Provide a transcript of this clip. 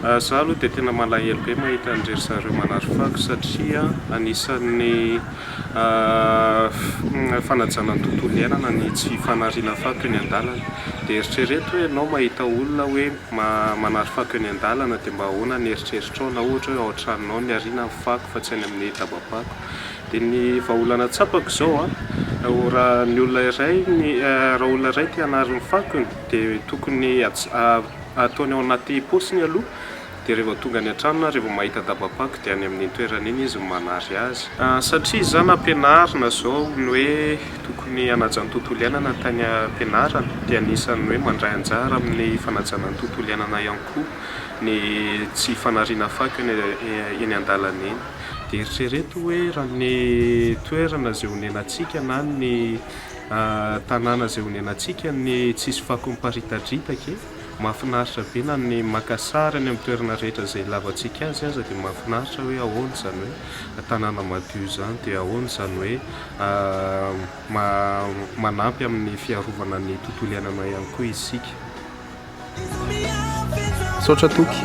Za aloha dia tena malahelo be mahita an-dry zareo manary fako satria anisan'ny fanajana ny tontolo iainana ny tsy fanariana fako eny an-dalana. Dia eritrereto hoe ianao mahita olona hoe manary fako eny an-dalana dia mba ahoana ny eritreritrao na ohatra hoe ao an-tranonao no niariana ny fako fa tsy any amin'ny daba-pako. Dia ny vahaolana tsapako izao, raha ny olona iray, raha olona iray te hanary ny fakony dia tokony Ataony ao anaty paosiny aloha dia rehefa tonga any an-trano na rehefa mahita daba-pako dia any amin'iny toerana iny izy no manary azy. Satria izaho nampianarina izao ny hoe tokony hanaja ny tontolo iainana tany am-pianarana dia anisan'ny hoe mandray anjara amin'ny fanajana ny tontolo iainana ihany koa ny tsy fanariana fako eny an-dalana eny. Dia eritrereto hoe raha ny toerana izay onenantsika na ny. Tanàna izay honenantsika ny tsisy fako miparitadritaka e! Mahafinaritra be na ny maka sary any amin'ny toerana rehetra izay hilavantsika azy aza dia mahafinaritra hoe ahoana izany hoe tanàna madio izany dia ahoana izany hoe manampy amin'ny fiarovana ny tontolo iainanao ihany koa isika. Misaotra Toky.